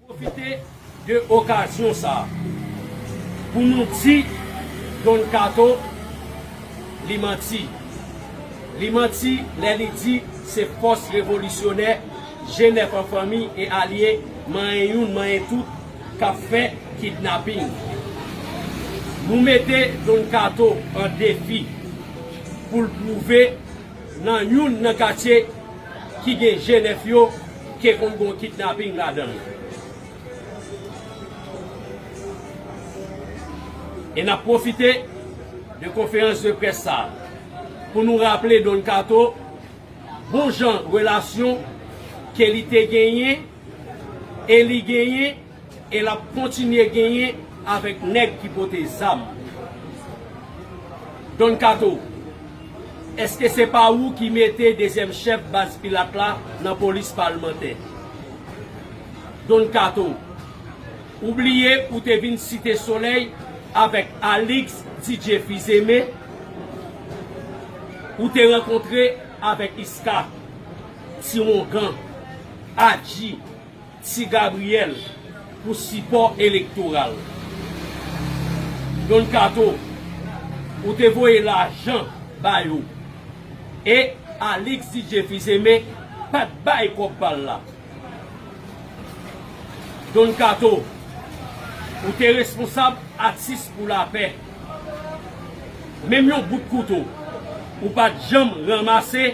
Pwofite de okazyon sa pou nou di Don Kato li manti. Li manti lè li di se fòs revolisyonè, G9 an fanmi e alye, manyen youn manyen tout. kap fè kidnaping. Nou mete Don Kato an defi pou l pwouve nan youn nan katye ki gen je nèf yo ke konn gon kidnaping ladan l. E nap pwofite de konferans de près sa pou nou raple Don Kato bon jan relasyon ke li te genyen. E li genyen e l ap kontinye genyen avèk nèg ki pote zam. Don Kato, èske se pa ou ki mete dezyèm chèf baz Pilat la nan polis palmantè? Don Kato, ou bliye ou te vin Site Solèy avèk Alix DJ Fils-Aimé? Ou te rankontre avèk Iska? Ti Ongan, Adji, Ti Gabriyèl pou sipò elektoral. Don Kato, ou te voye lajan ba yo e Alix DJ Fils-Aimé pa t bay kòb pa l la. Don Kato, ou te responsab Atis pou Lapè. Menm yon bout kouto ou pa t janm ranmase.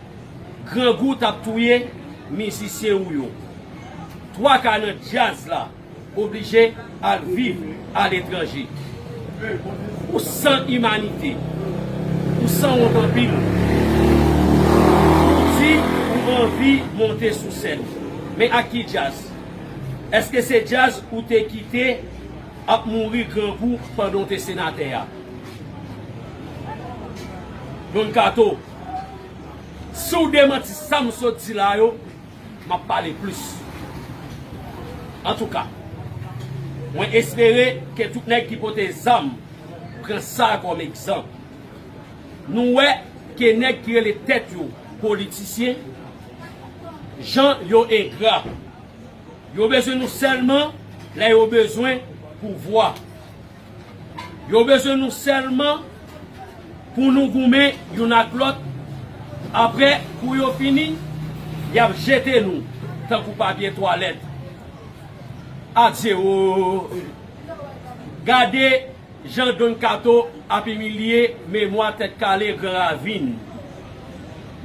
Grangou tap touye mizisyen ou yo. Twaka nan djaz la oblije al viv aletranje. Ou san imanite. Ou sanwont anpil. Ou di ou anvi monte sou sèn. Men ak ki djaz? Eske se djaz ou te kite ap mouri grangou pandan w te senatè a? Don Kato. Si w demanti sa m sot di la yo, m ap pale plis. Antouka, mwen espere ke tout nèg ki pote zam pran sa kòm egzanp. Nou wè ke nèg ki rele tèt yo politisyen, jan yo engra. Yo bezwen nou sèlman lè yo bezwen pouvwa. Yo bezwen nou sèlman pou nou goumen youn ak lòt, apre kou yo fini, y ap jete nou tankou papye twalèt. Adye wooyy! Gade jan Don Kato ap imilye memwa Tèt Kale Gran Ravin.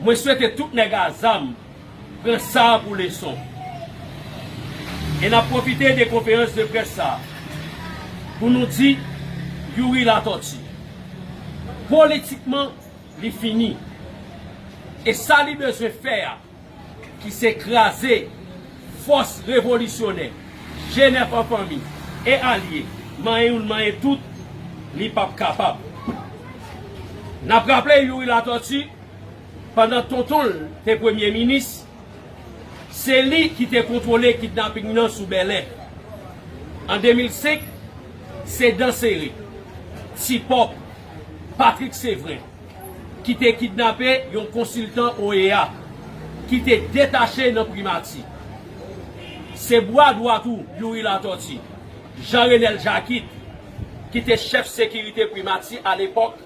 Mwen swete tout nèg a zam Pran sa pou leson. E n ap pwofite de konferans de près sa a pou nou di Youri Latòti, politikman li fini. E sa li bezwen fè a, ki se kraze fòs revolisyonè G9 an fanmi e alye, manyen youn manyen tout, li p ap kapab. N ap raple Youri Latòti. pandan tonton l te premye minis, se li ki te kontwole kidnaping nan sou Bèlè. An 2005, se Dansere, Ti Pòp, Patrik Sevren, ki te kidnape yon konsiltan OEA, ki te detache nan Primati. Se bwa dwa tou Youri Latòti, Jean Renel Jacquit, ki te chèf sekirite Primati alepòk,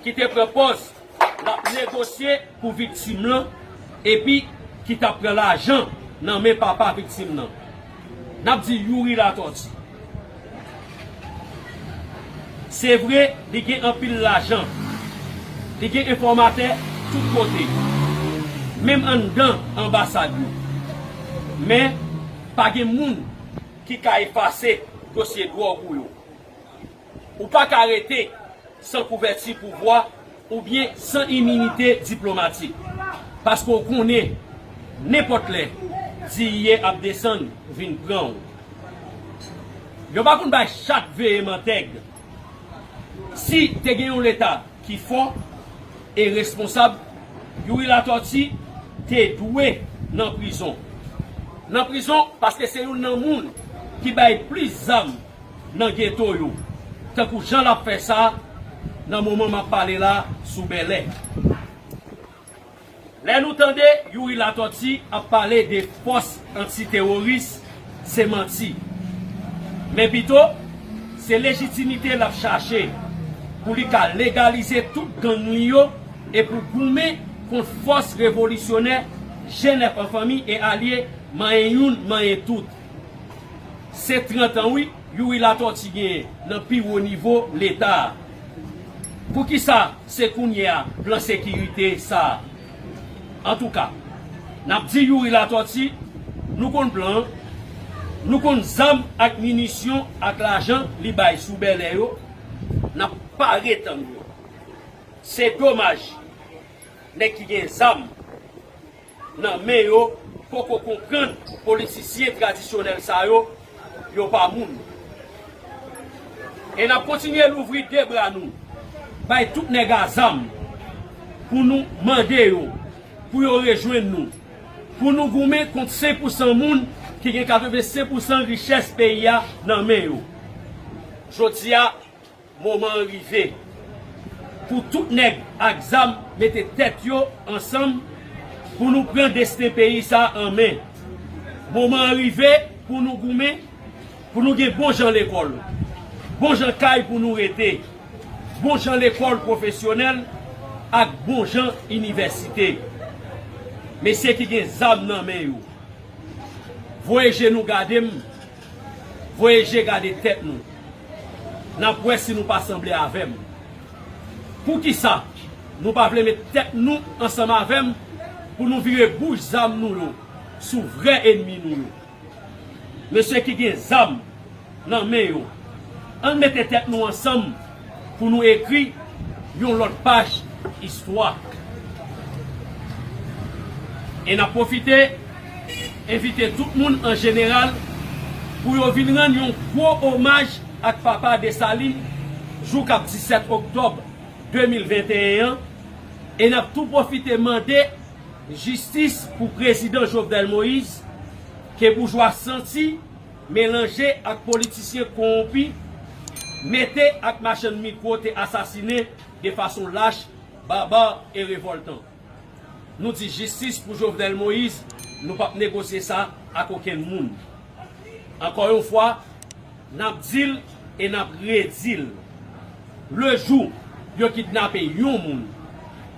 ki te pran pòz lap negosye pou viktim lan epi ki tap pran lajan nan men papa viktim lan nap di Youri Latortue se vre li gen anpil lajan li gen enfòmatè tout kote menm anndan anbasad yo men pa gen moun ki ka efase dosye dwòg ou yo. Ou pa ka rete san kouvèti pouvwa oubyen san iminite diplomatik. Paske w konnen, nenpòt lè, diiye ap desann vin pran w. Yo pa konn bay chat veye mantèg. Si te gen yon Leta ki fò e responsab, Youri Latòti te dwe nan prizon. Nan prizon paske se youn nan moun ki bay plis zam. nan geto yo, tankou jan l ap fè sa nan moman m ap pale la sou Bèlè. Lè nou tande Youri Latòti ap pale de fòs antiteworis, se manti. Men pito, se lejitimite l ap chache pou li ka legalize tout gang li yo e pou goumen kont fòs revolisyonè Jenèf an Fanmi e Alye manyen youn manyen tout. Se 30 ans wi Youri Latortue genyen nan pi wo nivo leta a. Poukisa se kounye a plan sekirite sa a? Antouka, n ap di Youri Latortue, nou konn plan an, nou konn zam ak minisyon ak lajan li bay sou Bèlè yo, n ap pare tann yo. Se domaj, nèg ki gen zam, nan men yo poko konprann politisyen tradisyonèl sa yo, yo pa moun. E nap kontinye louvri 2 bra nou bay tout nèg a zam pou nou mande yo pou yo rejwenn nou pou nou goumen kont 5 pou 100 moun ki gen 85 pou 100 richès peyi a nan men yo. Jodi a Moman an rive pou tout nèg ak zam mete tèt yo ansanm pou nou pran desten peyi sa an men. Moman an rive pou nou goumen pou nou gen bon jan lekòl, bon jan kay pou nou rete, bon jan lekòl pwofesyonèl ak bon jan inivèsite. Mesye ki gen zam nan men yo, voye je nou gade m. Voye je gade tèt nou. N ap wè si nou pa sanble avè m. Poukisa nou pa vle met tèt nou ansanm avè m pou nou vire bouch zam nou yo sou vrè enmi nou yo? Mesye ki gen zam nan men yo, ann mete tèt nou ansanm pou nou ekri yon lòt paj istwa. E n ap pwofite envite tout moun an jeneral pou yo vin rann yon gwo omaj ak papa Desalin jou k ap 17 oktòb 2021 an e n ap tou pwofite mande jistis pou prezidan Jovenel Moïse ke boujwa santi Melanje ak politisyen kowonpi, mete ak machann mikwo te asasine de fason lach, barbar e revoltan. Nou di jistis pou Jovenel Moïse, nou pap negosye sa ak okenn moun. Ankò yon fwa, nap dil e nap redil, le jou yo kidnape yon moun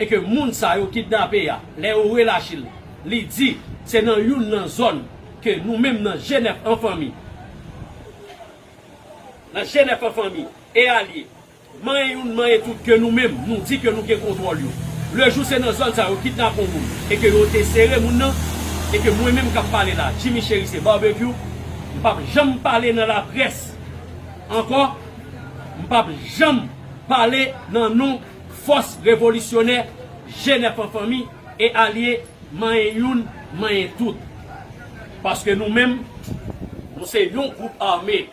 e ke moun sa yo kidnape a, lè yo relache l, li di se nan youn nan zòn Ke nou menm nan Jenèf an fanmi, nan Jenèf an fanmi e alye, manyen youn manyen tout ke nou menm nou di ke nou gen kontwòl yo. Le jou se nan zòn sa yo kidnap on moun e ke yo te sere moun nan e ke mwen menm kap pale la Jimmy Cherisier Barbecue m pap janm pale nan laprès ankò, m pap janm pale nan non fòs revolisyonè Jenèf an fanmi. E alye manyen youn manyen tout. Paske nou menm, nou se yon gwoup ame.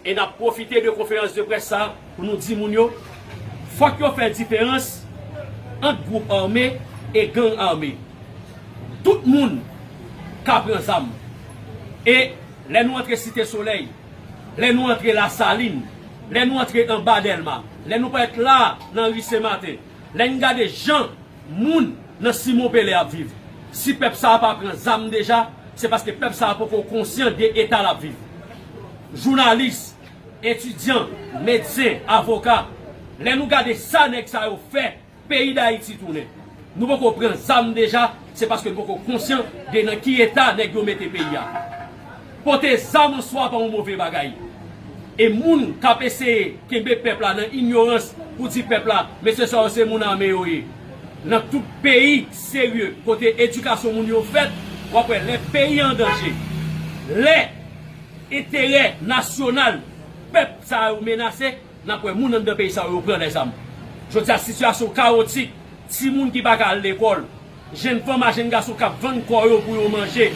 E nap pwofite de konferans de près sa pou nou di moun yo, fòk yo fè diferans ant gwoup ame e gang ame. Tout moun ka pran zam. E lè nou antre Site Solèy, lè nou antre Lasalin, lè nou antre anba Dèlma, lè nou parèt la nan ri Senmaten, Lè n gade jan moun nan Simon Pele ap viv, si pèp sa a pa pran zam deja, se paske pèp sa a poko konsyan de eta l ap viv. Jounalis, etidyan, medsen, avoka, lè nou gade sa nèg sa yo fè peyi Dayiti tounen, nou poko pran zam deja, se paske n poko konsyan de nan ki eta nèg yo mete peyi a. Pote zam an swa pa yon move bagay. E moun k ap eseye kenbe pèp la nan inyorans pou di pèp la mesye sa yo se moun ame yo ye. Nan tout peyi serye kote edikasyon moun yo fèt, w ap wè lè peyi an danje, lè enterè nasyonal pèp sa yo menase, n ap wè moun anndan peyi sa yo yo pran lèzam. Jodi a sitiyasyon kawotik, timoun ki pa ka al lekòl, Jenn fanm a jenn gason k ap vann kò yo pou yo manje.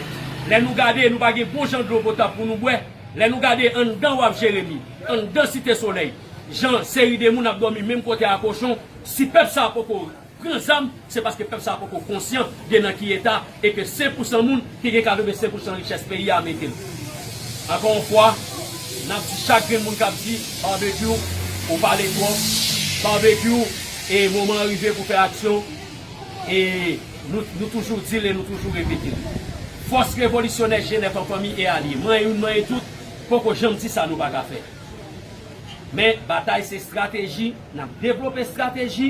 Lè nou gade, nou pa gen bon jan dlo potab pou nou bwè. Lè nou gade anndan Waf Jeremi, anndan Site Solèy, jan seri de moun ap dòmi menm kote a kochon, si pèp sa a poko pran zam, se paske pèp sa a poko konsyan de nan ki eta e ke sen pou san moun ki gen 85 pou san richès peyi a mete l. Ankò yon fwa, n ap di chak grenn moun k ap di, Barbecue, ou pale twòp, Barbecue, e moman an rive pou fè aksyon. E nou toujou di l e nou toujou repete l. Fòs revolisyonè Jenèf an fanmi e alye, manye youn manye tout, poko janm di sa nou pa ka fè. Men batay se estrateji, n ap devlope estrateji,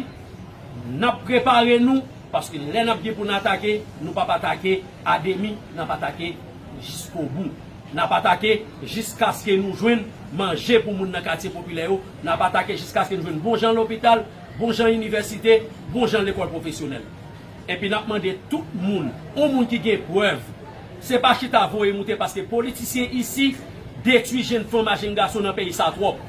n ap prepare nou, paske lè n ap gen pou n atake, nou p ap atake ademi, n ap atake jiskobou. N ap atake jiskaske nou jwenn manje pou moun nan katye popilè yo, n ap atake jiskaske nou jwenn bon jan lopital, bon jan inivèsite, bon jan lekòl pwofesyonèl. Enpi n ap mande tout moun, yon moun ki gen prèv, se pa chita voye moute paske politisyen isi detwi jenn fanm a jenn gason nan peyi sa twòp.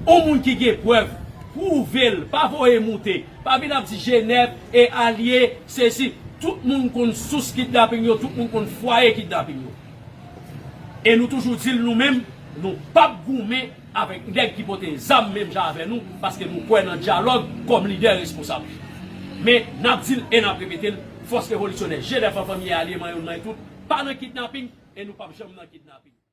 Yon moun ki gen prèv, pwouve l, pa voye moute. Pa vin ap di Jenèv e alye sesi. Tout moun konn sous kidnaping yo, tout moun konn fwaye kidnaping yo. E nou toujou di l nou menm, nou p ap goumen avèk nèg ki pote zam menm jan avè nou paske nou kwè nan dyalòg kòm lidè responsab. Men, n ap di l e n ap repete l, Fòs Revolisyonè, Jèdèf an Fanmi e Alye Manyon Manyetout pa nan kidnaping e nou p ap janm nan kidnaping.